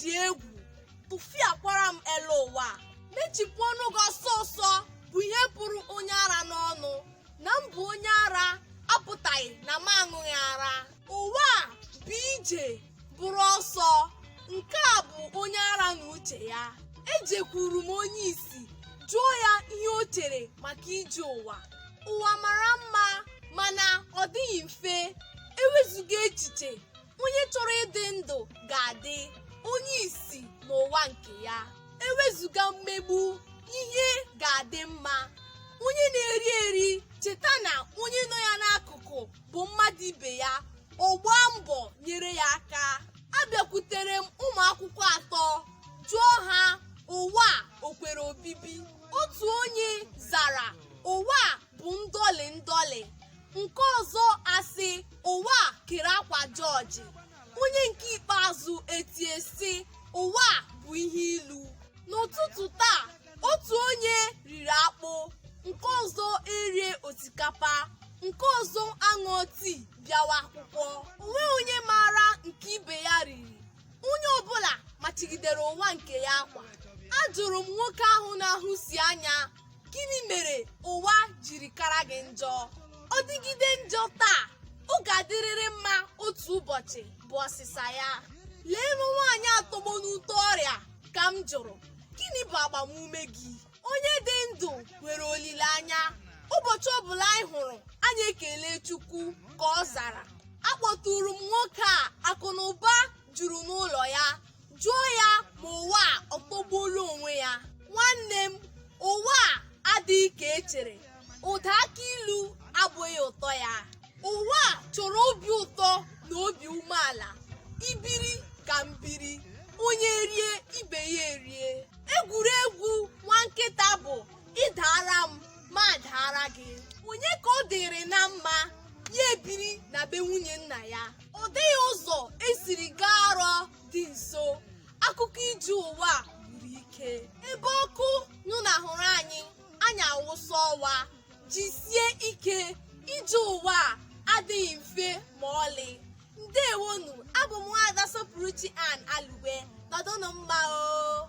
dị egwu tụfiakwara m elu ụwa mechipụ ọnụ gị ọsọ ọsọ bụ ihe pụrụ onye ara n'ọnụ na m bụ onye ara apụtaghị na m aṅụghị ara ụwa a bụ ije bụrụ ọsọ nke a bụ onye ara na uche ya ejekwuru m onye isi jụọ ya ihe o chere maka ije ụwa ụwa mara mma mana ọ dịghị mfe ewezụga echiche onye chọrọ ịdị ndụ ga-adị onye isi n'ụwa nke ya ewezụga mmegbu ihe ga-adị mma onye na-eri eri cheta na onye nọ ya n'akụkụ bụ mmadụ ibe ya ọ gbaa mbọ nyere ya aka abịakwutere m ụmụ akwụkwọ atọ jụọ ha ụwa a o kwere obibi otu onye zara ụwa a bụ ndọlị ndọlị nke ọzọ asị ụwa a kere akwa jọọjị onye nke ikpeazụ etie sị ụwa a bụ ihe ilu n'ụtụtụ taa otu onye riri akpụ nke ọzọ erie osikapa nke ọzọ aṅụọ tii bịawa akwụkwọ o nwee onye maara nke ibe ya riri onye ọbụla machigidere ụwa nke ya akwa ajụrụ m nwoke ahụ na-ahụsi anya gịnị mere ụwa jiri kara gị njọ ọ dịgide njọ taa ọ ga-adịrịrị mma otu ụbọchị bụ ọsịsa ya leenụ nwaanyị a tọgbọ n'ute ọrịa ka m jụrụ gịnị bụ agbamume gị onye dị ndụ nwere olileanya ụbọchị ọbụla anyị hụrụ anyị ekele chukwu ka ọ zara akpọtụrụ m nwoke a akụ na ụba juru n'ụlọ ya jụọ ya ma ụwa a ọ tọgbuola onwe ya nwanne m ụwa a adịghị ka e chere ụda akị ilu abụghị ụtọ ya ụwa a chọrọ obi ụtọ na obi umeala i biri ka m biri onye rie ibe ya erie egwuregwu nwa nkịta bụ ị daara m m adaara gị onye ka ọ dịịrị na mma ya ebiri na be nwunye nna ya ọ dịghị ụzọ e siri gaa arọ dị nso akụkọ ije ụwa a gwụrụ ike ebe ọkụ nyụnahụrụ anyị anyị awụsa ọwa jisie ike ije ụwa a adịghị mfe ma ọlị ndeewonụ abụ m nwaada sọpụrụchi an alugbe nọdụnụ mma o